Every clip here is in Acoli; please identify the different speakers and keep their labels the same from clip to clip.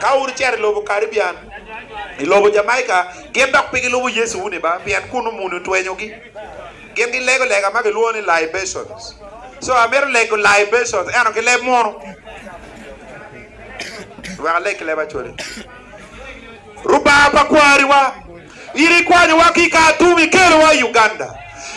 Speaker 1: Ka wun wucito i lobo Karibian, i lobo Jamaica, gin dok pe gilubo Yecu wuni ba, pien kunnu muni otwenyogi. Gin gilego lega ma kilwongo ni libations. Co amito lego libations ento ki leb munu. Wek alek ki leb Acholi. Rubanga pa kwariwa. In ikwanyowa ki i kare tum, ikelowa i Uganda.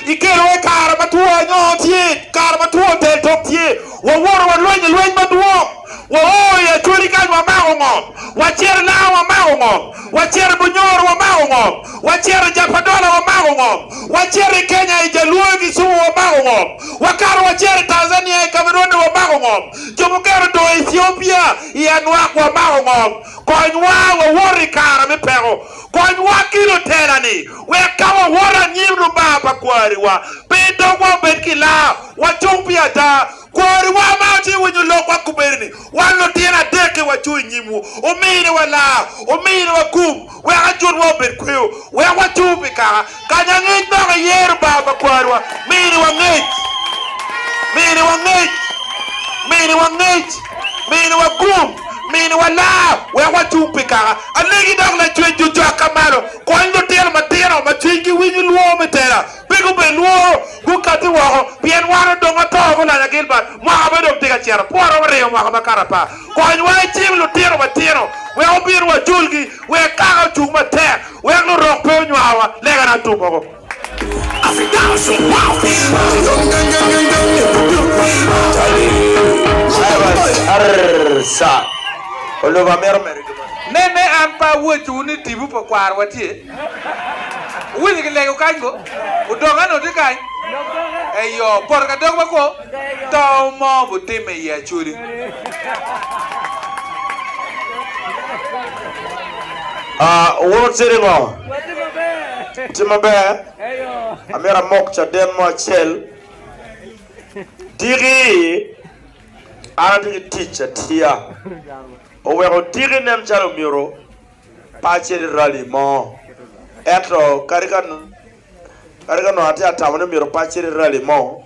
Speaker 1: Ikelowa i kare ma two anyoo tye, kare ma two teltok tye. Wawoto walwenyo lweny madwong. Wao i Acholi kany wamako ngom. Wacito i Lamu wamako ngom. Wacito i Bunyoro wamako ngom. Wacito i Japadola wamako ngom. Wacito i Kenya i Jaluo i Kisumu wamako ngom. Wakato wacito i Tanzania i Kamerone wamako ngom. Jo mukene odong i Ethiopia i Anwak wamako ngom. Konywa wawoto i kare me peko. Konywa ki lutera-ni wek ka wawoto anyim Lubanga pa kwariwa pe dogwa obed ki laa, wacung pi ada. Kwariwa ma otye winyo lokwa kobedo-ni, wan lutino adek-ki wacung i nyimwu, wuminiwa laa, wuminiwa gum, wek ajutwa obed kweyo, wek wacur pi kaka. Kany angec dok iyero bar pa kwarwa. Mini wangec. Mini wangec. Mini wangec. Mini wagum. Mini walaa wek wacung pi kaka. Alegi dok lacwec jo cokka malo. Kony lutino matino ma cwinygi winyo lworo me tela pe gubed lworo, gukati woko pien wan odong ato ki olanya Gilbert. Mwaka pe dong tye ka cito. Pwota waringo mwaka makato apar. Konywa icim lutino matino wek obin waculgi wek kaka ocung matek. Wek lurok pe onywawa lega na tum oko. Me me an pe awocciwu ni tibu pa kwarwa tye. Wuwinyo ki lego kany ko? Odok eno tye kany? Eyo, poto ka dok ma kwo. To mo gutimme i Acholi. Wun wucito i ngo? Watye maber. Amyero amok caden mo acel. Tiki, an atye ki tic atiya. Oweko Tiki nen calo omyero pe acit i rali mo. Ento kadi ka nongo atye atamo ni myero pe acit i rali mo,